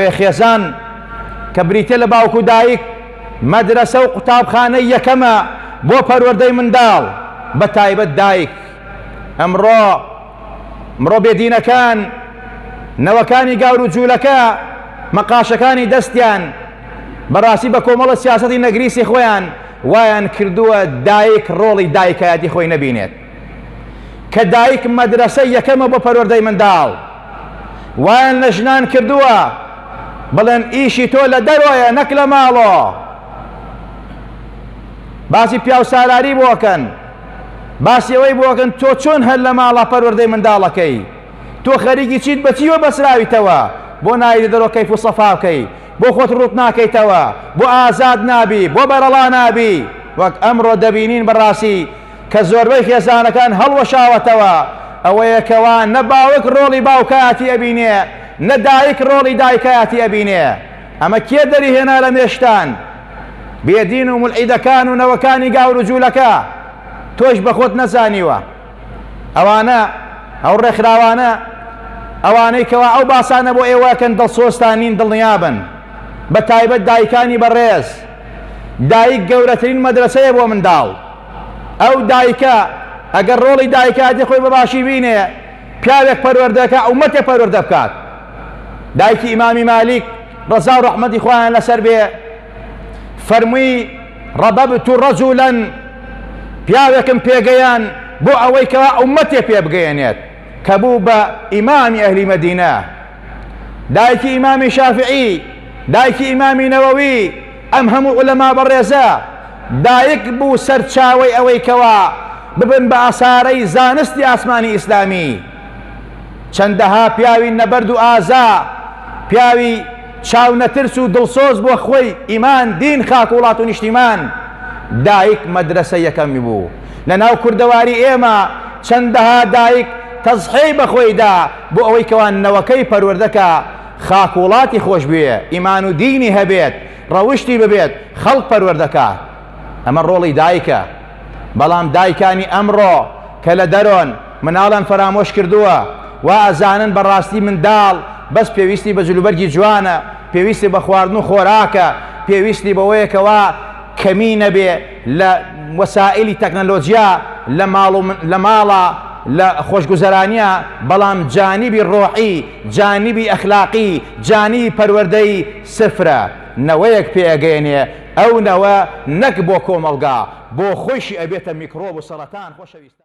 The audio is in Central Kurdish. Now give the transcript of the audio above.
خێزان کە بریتیە لە باوک و دایک، مەدرەسە و قوتابخانەی یەکەمە بۆ پەروەردەی منداڵ، بە تایبەت دایک. ئەمڕۆ مرۆ بێدینەکان، نەوەکانی گاور و جولەکە، مەقاشەکانی دەستیان، بەڕاستی بە کۆمەڵە سیاسەتی نەگریسی خۆیان وایان کردووە دایک ڕۆڵی دایکایەتی خۆی نەبینێت. کە دایک مەدرەسەی یەکەمە بۆ پەروەردەی منداڵ وایان لە ژنان کردووە بڵێن ئیشی تۆ لە دەرۆیە نەک لە ماڵۆ باسی پیاو سالاری بۆکەن باسی ئەوەی بۆکەن تۆ چۆن هەر لە ماڵە پەروەردەی منداڵەکەی تۆ خەریکی چیت بەچیوە بەسراویتەوە بۆ نایری دەرۆ کەیف و سەفاکەی بۆ خۆت ڕوت ناکەیتەوە بۆ ئازاد نابی بۆ بەرەڵا نابی وەک ئەمڕۆ دەبینین بەڕاستی کە زۆربەی خێزانەکان هەڵوەشاوەتەوە، ئەوەیە کەوا نە باوک ڕۆڵی باوکایەتی ئەبینێ نە دایک ڕۆڵی دایکایەتی ئەبینێ، ئەمە کێ دەری هێنا لە مێشتان؟ بێ دین و مولحیدەکان و نەوەکانی گاور و جولەکە، تۆیش بە خۆت نەزانیوە ئەوانە ئەو ڕێکخراوانە ئەوانەی کەوا ئەو باسانە بۆ ئێوە ئەکەن دڵسۆزتان نین دڵنیابن بە تایبەت دایکانی بەڕێز دایک گەورەترین مەدرەسەیە بۆ منداڵ. ئەو دایکە ئەگەر ڕۆڵی دایکایەتی خۆی بە باشی بینێ پیاوێک پەروەردەکە ئومەتێ پەروەردە بکات دایکی ئیمامی مالیک ڕەزا و ڕەحمەتی خۆیان لەسەر بێ فەرمووی ڕەبەبت و ڕەجولەن پیاوێکم پێگەیان بۆ ئەوەی کەوا ئومەتێ پێ بگەیەنێت کە بوو بە ئیمامی ئەهلی مەدینە دایکی ئیمامی شافعی دایکی ئیمامی نەوەوی ئەم هەموو عولەما بەڕێزە دایک بوو سەرچاوەی ئەوەی کەوا ببن بە ئاسارەی زانستی ئاسمانی ئیسلامی چەندەها پیاوی نەبەرد و ئازا پیاوی چاو نەترس و دڵسۆز بۆ خوی ئیمان دین خاک وڵات و نیشتیمان دایک مەدرسە یەکەمی بوو لە ناو کوردەواری ئێمە چەندەها دایک تەزحێی بەخۆیدا بۆ ئەوەی کەوا نەوەکەی پەروەردەکە خاک وڵاتی خۆشبوێ ئیمان و دینی هەبێت ڕەوشتی ببێت خەڵک پەروەردەکات ئەمە ڕۆڵی دایکە بەڵام دایکانی ئەمڕۆ کە لە دەرۆن مناڵیان فەرامۆش کردووە وا ئەزانن بەڕاستی منداڵ بەس پێویستی بە جلوبەرگی جوانە پێویستی بە خواردن و خۆراکە پێویستی بەوەیە کەوا کەمی نەبێ لە وەسائلی تەکنەلۆجیا لە ماڵ و لە ماڵە لە خۆشگوزەرانیە بەڵام جانیبی ڕۆحی جانیبی ئەخلاقی جانیبی پەروەردەی سفرە، نەوەیەک پێ ئەگەیەنێ، ئەو نەوە نەک بۆ کۆمەڵگا بۆ خۆیشی ئەبێتە میکرۆب و سەڕەتان.